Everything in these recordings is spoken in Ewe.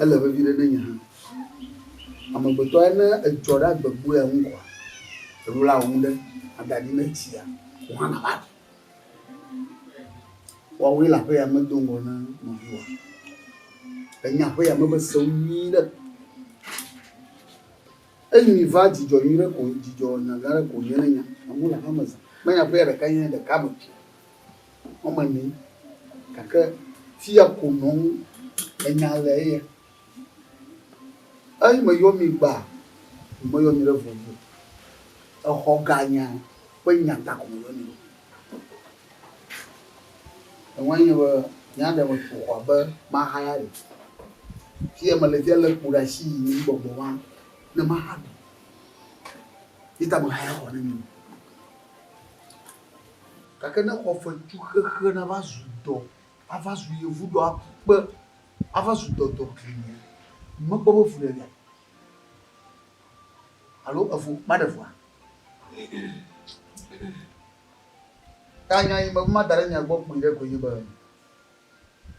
Ele vevi ɖe ne nye hã. Amegbetɔa ne edzɔ ɖe agbe gbɔea ŋu kɔa, elola wò ŋu ɖe ada ɖi ne etsia wò hã nàva ɖi. Woawoe le aƒe ya me do ŋgɔ ne nɔviwòa. Enya aƒe ya me be sewo nyui ɖe. Enyi va dzidzɔ nyui ɖe ko, dzidzɔ nya gã ɖe ko nye ne nya. Amewo le aƒe me zã. Menya aƒe ya ɖeka nye ɖeka me. wɔme enee gake fiya ko nɔm enya le eya. Eyi me yɔ mi gbaa, mi me yɔ mi ɖe vɔvɔ. Exɔ ga nya ƒe nya ta ko me yɔ mi. Ewa nye be nya ɖe me ƒo xɔa be maxa ya ɖe. Fiya me le fiya le kpo ɖe asi yi mi gbɔgbɔ wa ne maxa ɖe. Yi ta me xa ya xɔ ne mi. Gake ne xɔfetsuxexe nava zu dɔ, ava zu yevudɔ aku kpe, ava zu dɔdɔ klimɛ, mekpɔ be fuɖeɖea alo efu maɖe fua? Ta nya yi meva da ɖe mia gbɔ kpuiɖe koe nye be,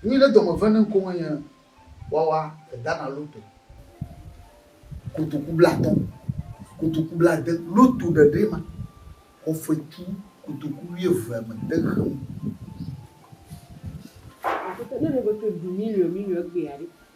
Nyui ɖe dɔme ve ne ŋko menye wawa eda na loto kotoku blatɔ kotoku blade loto ɖeɖe ma xɔ fetu kotoku wuieve me te xeŋ. Aƒetɔ, ne nɔgbe to du miliɔ miliɔ gbea ɖe?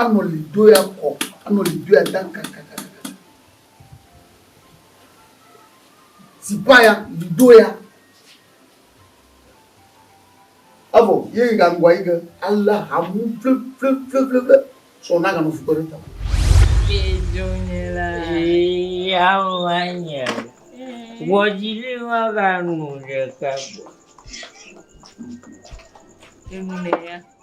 Anɔ li doe akɔ, anɔ li doe adaŋ kakakakaka. Zipaya li doea. Evɔ ye yi ga ŋgɔa yi ge ale hamu fleflefleflefle sɔ na ga nɔ fukpe ɖe ta. Ke jo nye la. Ee awo wa nye o. Wɔdzi li wa ga nu ɖeka gbɔ. Enu ne ya.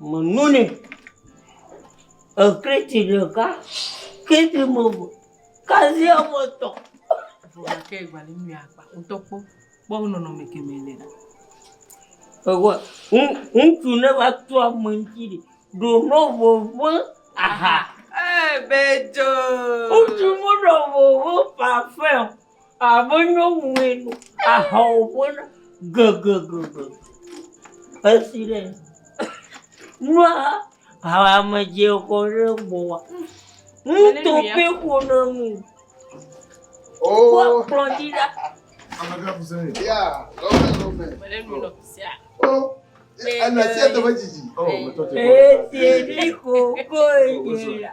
Me nu ni ekriti ɖeka kriti me eve kasia ame etɔ̃. Gake gbali mi akpa ŋutɔ kpɔ kpɔ nɔnɔme kemɛ le. Ewa ŋutsu ne va tu ame ŋuti ɖi ɖo nɔ vovo aha. Ee bɛdzo. Ŋutsu mu nɔ vovo pafɛn. Abe nyɔnue nu aha wòƒe na gegegege. Esi ɖe nua hame dze kɔ ɖe gbɔwòa, nuto ƒe ƒo na nu. Kpɔ kplɔ dzi ɖa. Esi ɖi kokoe dze ya.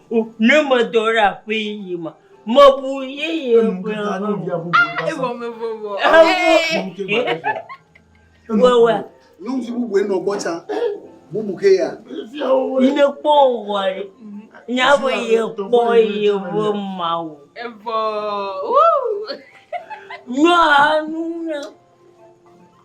Ne medo ɖe aƒe yeye me, mebu yeye ƒe Wewe. Nyɔnuvi bubu enɔ gbɔ tsã. Bubu ke ya. Yine kpɔ wɔ ɖe. Nyabe ye kpɔ ye ƒe mawu. Evɔ. Nyɔa nu na.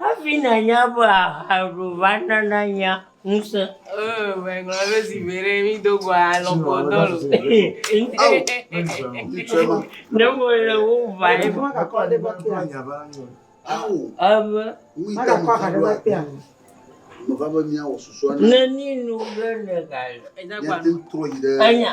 Hafi nànya be aha ɖu va na nànya ŋusẽ. Oh, megblɔ be zi veɖe mi do go alɔ kɔ dɔ lo. Ne mo le wo va ye. Mo ka kɔ de ba te a nya ba nyo. Awo. Ebe. Wi ta mo ka ba te a. Mo va be mi awo susu ana. Ne ni nu be ne ka. Enya gba. Enya.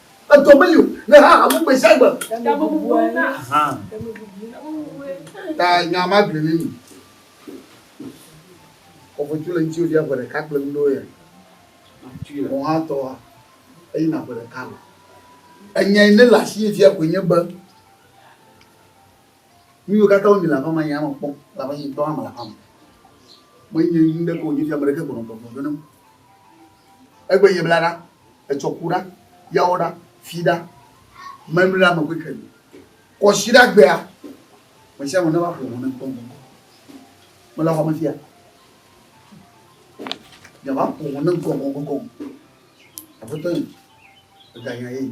Edɔ meyo ne ha hamu gbe sia gbe. Ɖe mebubu na. Ɖe mebubu na. Ta nya ma gblẽ ne mi. Kɔfɔtu le ŋuti wòvia ƒe ɖeka kple nuɖewo ya. Wò hã tɔa, eyina ƒe ɖeka me. Enyae ne le asiye fia koe nye be Nu yiwo katã wonyi le aƒea me, yea mekpɔm, elabe nye ŋutɔ hã mele aƒea me. Menye nu ɖeke wònye fia ame ɖeke gbɔnɔ gbɔgblɔ ɖo nam. Egbe nye bla ɖa, etsɔ ku ɖa, yawo ɖa, fi ɖa, memli ɖe ame kɔkɔe me. Kɔsiɖagbea, ame sia ame neva ƒo ʋu nam kpɔnkpɔn. Mele xɔa me fia. Miava ƒo ʋu nam gɔgɔgɔgɔ. Aƒetɔ ye, eganya ye.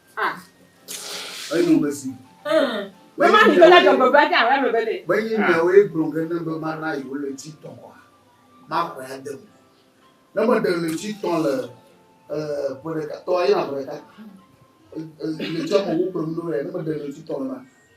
Ah. Eyi nu bɛ si. Bɛ ma ni bɛ la jɔgbɔ bɛ ta wɛ bɛ le. Bɛ yi na wo egblɔ ge ne bɛ ma na yi wo le ti tɔn wa. Ma kɔ ya de mu. Ne me de le ti tɔn le eh pere ka tɔ ayi na pere ka. Le ti tɔn wo pere mu do ya ne me de le ti tɔn na.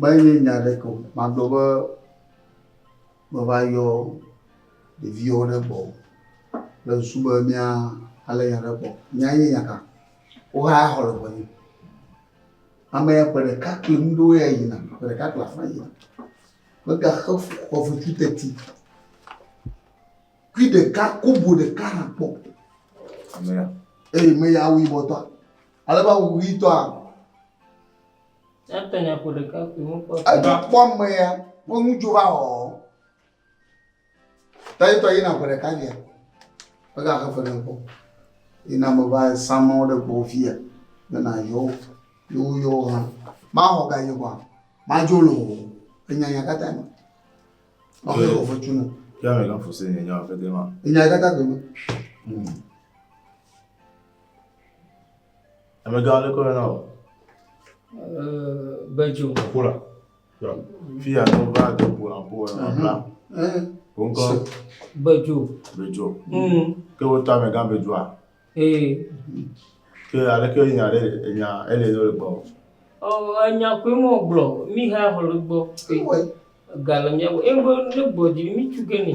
Menye nya aɖeke o, magblɔ be meva yɔ ɖeviwo ɖe gbɔ o. Le susu be mía alé nya ɖe gbɔ. Nya ye nya ka? Woxa ya xɔ le ŋɔnye. Ame ya ƒe ɖeka kli nu ɖo ya yina, ƒe ɖeka kli afã yina. Megaxe xɔvetsu teti. Kui ɖeka, kobo ɖeka hã kpɔ. Ame ya. Eye me ya awu yibɔtɔa. Ale be awu ʋitɔa. Ate nya ƒo ɖeka koe mekpɔ. Edzo kpɔ mea, wo ŋu dzo va wɔ. Ta yetɔ yina ƒe ɖeka via. Ega xe fe ne kpɔ. Yina me va sama wo ɖe gbɔ via. Ne na yɔ wo. Yo wo yɔ wo hã. Ma xɔ ga yi kɔa. Ma dzo lo. Enya nya kata ma. Ma xe kɔ fe tsu ne. Ya me kan fose ne nya wa fete ma. Enya kata koe ma. Hmm. Amegã aɖe kɔ na o. Bedzo. Ƒo la. Fi ya ne va de ƒo la ƒo la bla. Woŋkɔ. Bedzo. Bedzo. Ke wotɔ amegã bedzoa. Ee. Ke aleke nya ɖe nya ele ne le gbɔ. Ɔ enya koe mɔ gblɔ mi ha xɔ le gbɔ. Gale mia gbɔ. Ebe ne gbɔ dzi mi tsuke ni.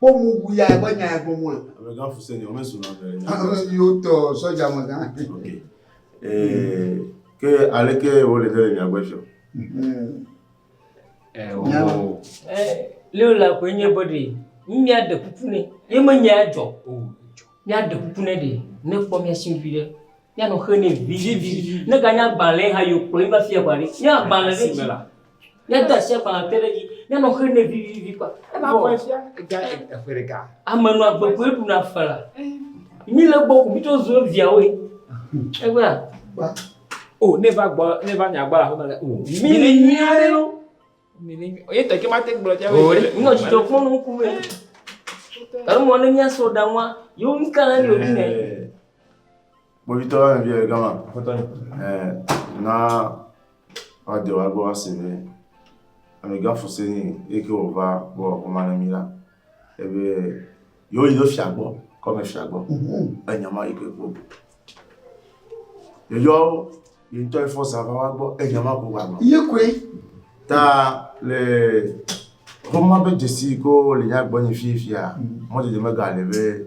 Kpɔ mu wu ya ebe nya ya gɔme. Amegã fuse nya me zuna ɖe nya. Ame yiwo tɔ sɔdza amegã. Ok. Eh, ke aleke wo le dele nya gbe fiɔ. Mhm. Eh, wo. Eh, leo la ko nye body. Mia de kuku ne. Ye me nya jɔ. Oh, jɔ. Mia de kuku ne de. Ne kpɔ mia sin vi de. Mia no xe ne vi vi vi. Ne ga nya gbalẽ ha yo kplɔ yi va fia kwa de. Mia gbalẽ de. Simela. Míade asi agbalẽ ate ɖe edzi. Míanɔ xe nɛ vivivi kpɔ. Eva vɔ. Ega eƒe ɖeka. Ame nɔ agbe koe ɖuna fela. Mi le gbɔ ko mi tsɔ zu eviawoe. Egbea. O ne va gbɔ ne va nya gbɔ la fama le. Mi le nyui aɖe lo. Mi le nyui. Ye teke ma te gblɔ tia. O ɖe. Nɔ dzidzɔ kpɔ nɔ ŋku me. Alo mɔ ne mia so da nwa. Yo ŋka na ni o ne. Bobitɔ via gama. Bobitɔ. Eh na. Woa de woa gbɔ woa se be ame gã fuse ni eye ke wo va wo wɔ ma ne mi la. Ebe yo yi do fia gbɔ, kɔ me fia gbɔ. Enya ma yi ke gbɔ. Yo yo yi ntɔ yi fɔ sa va wa gbɔ, enya ma ko wa gbɔ. Ye koe. Ta le Roma be dzesi ko le nya gbɔ nyi fifia, mɔdede mega le be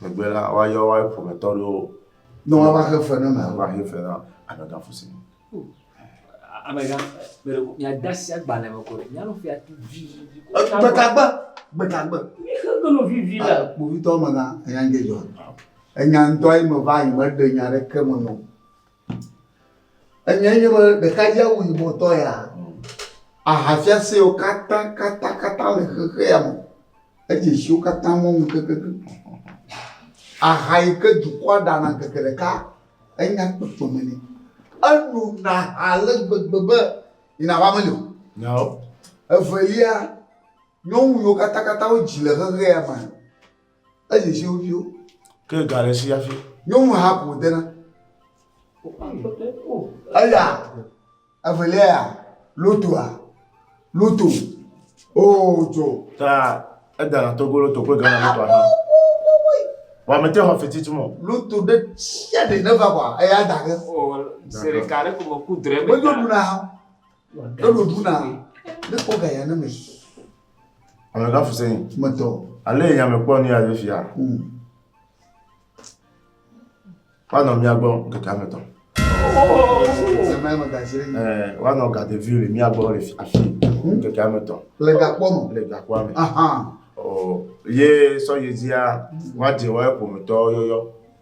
Megbe la, woayɔ woa ƒometɔ ɖewo. Ne woava xe fe na ame. Woava xe fe na amegã fu si. Amegã, mele ko miada asi agbalẽ me ko ɖe. Nyanu fia tu vivivi. Gbetagbe, gbetagbe. Mi xe ke no vivi la. Ah, kpovitɔ amegã, enya ŋdɔ dzɔ. Enya ŋdɔ ye me va yi, meɖe nya ɖeke me nɔ. Enyae nye be ɖekadze awu yibɔ tɔ ya, aha fiasewo katã katã katã le xexe ya me, edze esiwo katã mɔnu kekeake. Aha yi ke dukɔa ɖana ŋkeke ɖeka enya kpekpeme nɛ. Enona aha ale gbegbe be yi nàva meli o. Nyawo. Evelia, nyɔnu yiwo katã katã wodzi le xexe ya mea, Ezi zi wo viwo. Ke ga le si hafi. Nyɔnu ha ko dena. Eya evelia ya lotoa loto oo dzo. Ta edana togo loto kple gana loto aha. Wa mete xɔ fiti tu mɔ. Loto ɖe sia ɖe ne va bɔ eya da ge. Sere ka ɖe ko me ku dre me. Medo duna ha. Eɖo ɖu na ne kpɔ ga ya ne me. Ame ga fuse yin. Me tɔ. Ale yi ame kpɔ ni ya je fia. Hmm. Wa nɔ mia gbɔ keke ame tɔ. Ame ame ga jire. Eh, wa nɔ ga de vi le mia gbɔ le afi hmm. keke ame tɔ. Le ga kpɔ me. Le ga kpɔ ame. Aha. Oh, ye sɔ ye zia wa je wa epo me tɔ yɔyɔ.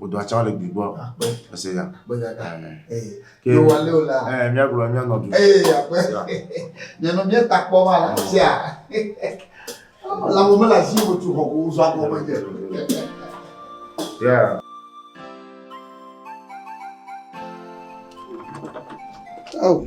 Wòdo atsã le gbi gbɔ. Akpe. Ese ya. Akpe gaka. Ee. Ke. Yo wale o la. Ee mía gblɔ mía nɔ du. Ee akpe. Mía nɔ mía ta kpɔ ma la tia. La mo me la zi mo tu hɔ ko zɔ akɔ me dze. Yeah. Oh.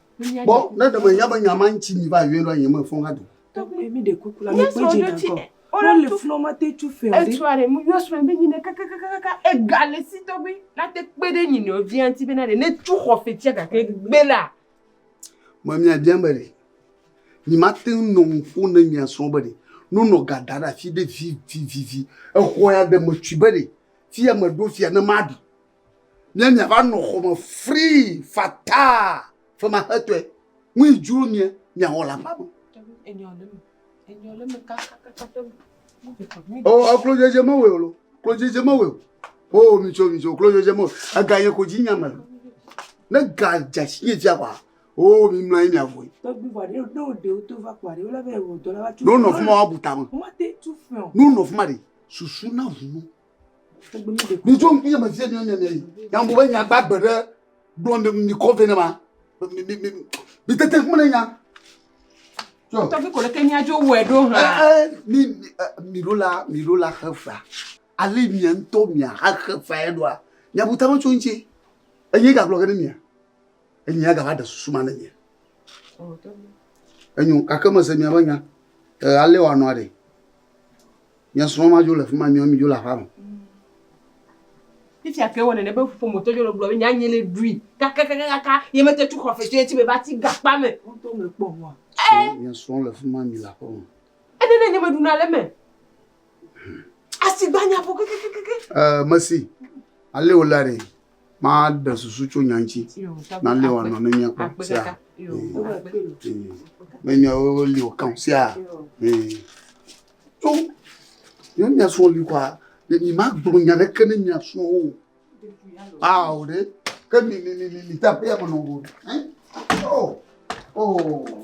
Kpɔ ne ɖe menya be nya ma ŋuti mi va yɔe ɖo nyeme fɔ hã do. Tɔgbe mi ɖe kuku la mi kpe dzi na kɔ. Wole le flɔ ma te tu fɛ o. Etsua ɖe mu yɔ srɔ̃ be nyine kakakakaka ega le si tɔgbe na te kpe ɖe nyinɔ via ŋuti be na ɖe ne tu xɔ fetia gake gbe la. Me mia bia be ɖe mi ma te ŋu nɔ ŋuƒo ne mia srɔ̃ be ɖe no nɔ ga da ɖe afi ɖe vivivivi exɔ ya ɖe me tui be ɖe fi ya me ɖo fia ne ma ɖu Mía miava nɔ xɔ me frii fataa femaxetɔe. Ŋui dzro mía miawɔ le aƒea me. O, oh, oh, klodzedze mewɔe o lo. Klodzedze mewɔe o. O, oh, mitso, mitso, klodzedze mewɔe. Ega ye ko dzi nyame. Ne ga dze asi nye dzia kɔa, o, oh, mi mlɔ ye miavoe. Tɔgbi vɔ ɖe ɖo ɖe woto va kɔa ɖe wole be wɔ dɔ la va tso. N'o nɔ fuma wa butame. Mate tu fɛ o. N'o nɔ fuma ɖe susu na vunu. ni jo ŋkpia me vie nyo nyene yi ya mo be nya gba gbe ɖe gblɔ mi mi kɔ vɛ ne ma mi mi mi mi tete ŋkume ne nya jo tɔfi ko leke nya jo wɔ ɖo hã eh, eh, mi eh, mi ɖo la mi ɖo la xe fa ale mi ŋutɔ mi axe fa ya ɖoa nya buta me tso ŋuti enye gagblɔ ge ne mia Enyi agava ɖe susu ma ne nye. Enyo gake mese miaƒe nya. Ee, ale wòanɔ aɖe. Mia srɔ̃ ma dzo le fi ma, mia mi dzo le aƒea me. Fifia ke wɔ nene be ƒometɔ dzo le gblɔ be nyanye le ɖui kakakakaka ye mete tu xɔ fetɔ ye ti be va ti gakpa me. Woto me kpɔ hua. Ee. Mia srɔ̃ le fi ma mi le aƒea me. Ene ne nye me ɖuna le me. Asi gbanya ƒo kakakakaka. Ee, mesi. Ale wòle aɖe. Maɖe susu tso nya ŋuti nalé wòanɔ ne míakpɔ sea? Ne nyawo li wòkã o sea? Tso ne mia srɔ̃ li kɔa, nyemagblɔ nya aɖeke na mia srɔ̃wo o. Ao ɖe, ke mi mi mi mi de aƒea me nɔm o. Oo oo.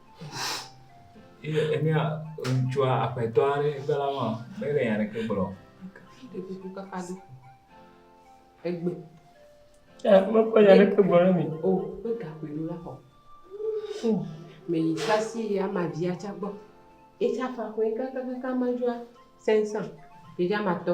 Ye enye ŋutsua aƒetɔ aɖe gbe la ma mele nya aɖeke gblɔ. Ekuku kaka do. Egbe. Ya mekpɔ nya aɖeke gblɔ ɖe mi. O ƒe gakpoe ɖo la xɔ. Mɛ yi sasi ye ama via tsa gbɔ. Etsa fa xɔe kakakaka ma dzua sɛnsa. Ɖeɖe ama tɔ.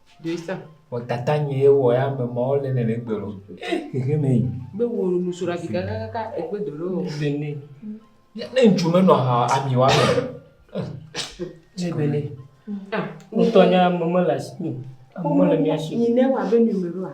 Wɔtata nyɛ ye wowɔ ya me mawo le ne le egbe lɔ. Xexe me yi. Be wo nu sora vi kakaka egbe do ɖe wo. Le ne. Ne ŋutsu menɔ ha ami wa me. Ne be ne. Ah, wotɔ nya mama la si. Mama la mia si. Ni ne wa be ni me roa.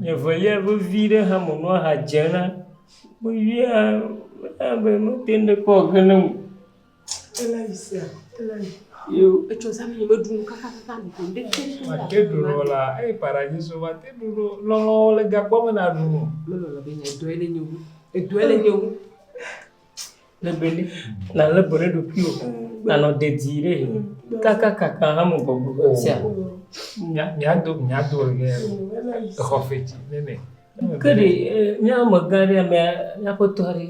Nye velia vevi ɖe hame nɔa ha dzem na mevia mena be mete ŋu ɖekpɔ o ke ne ŋu. Elali sia, elali. Yo. Etsɔ zã mi meɖu nu kakakaka ɖu ko ɖe te so. Mate ɖu lɔ la, eye paradiso mate ɖu lɔ lɔlɔ le gagbɔ me na ɖu. Melɔlɔ be nye dɔe le nye wu. Edɔe le nye wu. le be ne nalé be ɖe ɖokuiwò nanɔ dedie ɖe kakakaka hame gbɔgbɔ ƒe sia míado míado ege exɔ fetsi nene ke ɖe míawo megã ɖe amea míaƒe tɔ ɖe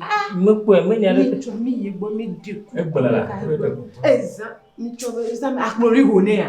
mekpɔe menya ɖe tsɔ mi yi gbɔ mi di egblẽ la ezã mi tsɔ be ezã akplɔ ɖe ho nɛ ya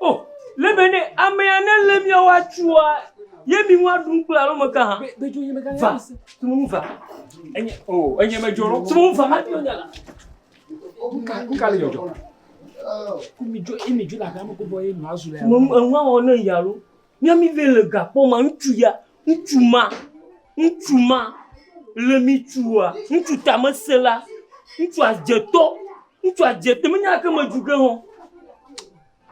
O! Le be ne amea nelé mía wo atsua, ye mi ŋu aɖu kple alo me ka hã. Va, tu nu va. Enye, o, enye me dzoro. Tu nu va, ma ɖi nya la. Kuka, kuka le dzɔdzɔ. Kumi dzo, imi dzo la gama kubɔ ye nua zu le. Mo enua wɔ ne ya lo. Mia mi ve le gakpɔ ma ŋutsu ya, ŋutsu ma, ŋutsu ma le mi tsua, ŋutsu tamesela, ŋutsu adzetɔ. Ŋutsua dze te menye ake me dzu ge hɔ.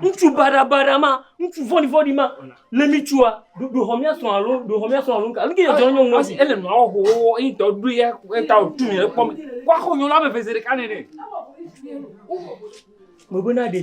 Ŋutsu baɖabaɖa ma, ŋutsu vɔ̃ɖivɔ̃ɖi ma, le mi tsua, ɖo xɔ míasrɔ̃ alo ɖo xɔ míasrɔ̃ alo nuka. Nu ke dzɔ nyɔ ŋu esi. Ele nua wɔ xoxoxo eyi tɔ ɖo ya eta o tu mi le kpɔ mi. Wa xɔ nyɔ la be vese ɖeka nene. Mebena ɖe.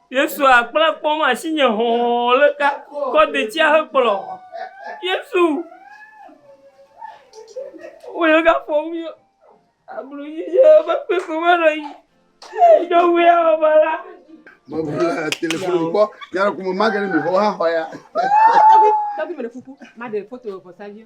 Yesu a kple kpɔm asinye hɔ̃ɔ le ka kɔ detsia he kplɔ. Yesu wo le ka fɔ mi ablu yi ye be kpe ko me nɔ yi. Do wu ya o ba la. Mo bu le telefon kpɔ ya ko mo magari mi ho ha ho ya. Tabi tabi me de fuku ma de foto vɔ sa vie.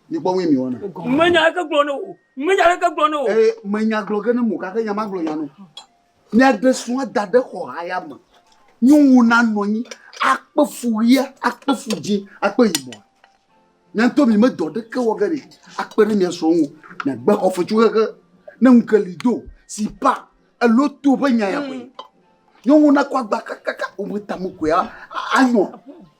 Mikpɔ ŋue mi wɔna. Menya ɖeke gblɔ ne wò. Menya ɖeke gblɔ ne wò. Ee, menya gblɔ ge ne mo gake nya magblɔ nya no. Miaɖe srɔ̃a da ɖe xɔ haya me. Nyɔnu nanɔ anyi akpe fu ɣia, akpe fu dzi, akpe yibɔ. Mia ŋutɔ mi medɔ ɖeke wɔ ge ne akpe ɖe mia srɔ̃ ŋu. Miagbe xɔ fetsu xexe ne ŋu ke li do si pa elo to ƒe nya ya koe. Nyɔnu nakɔ agba kakaka wò me tame koe anyɔ.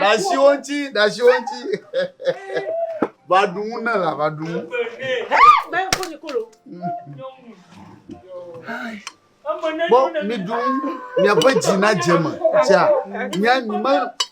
Dasi wo ŋuti, dasi wo ŋuti. Va ɖu nu ne la, va ɖu nu. Bɔ mi ɖu nu, miaƒe dzi nadze me. Tia, mia mi me.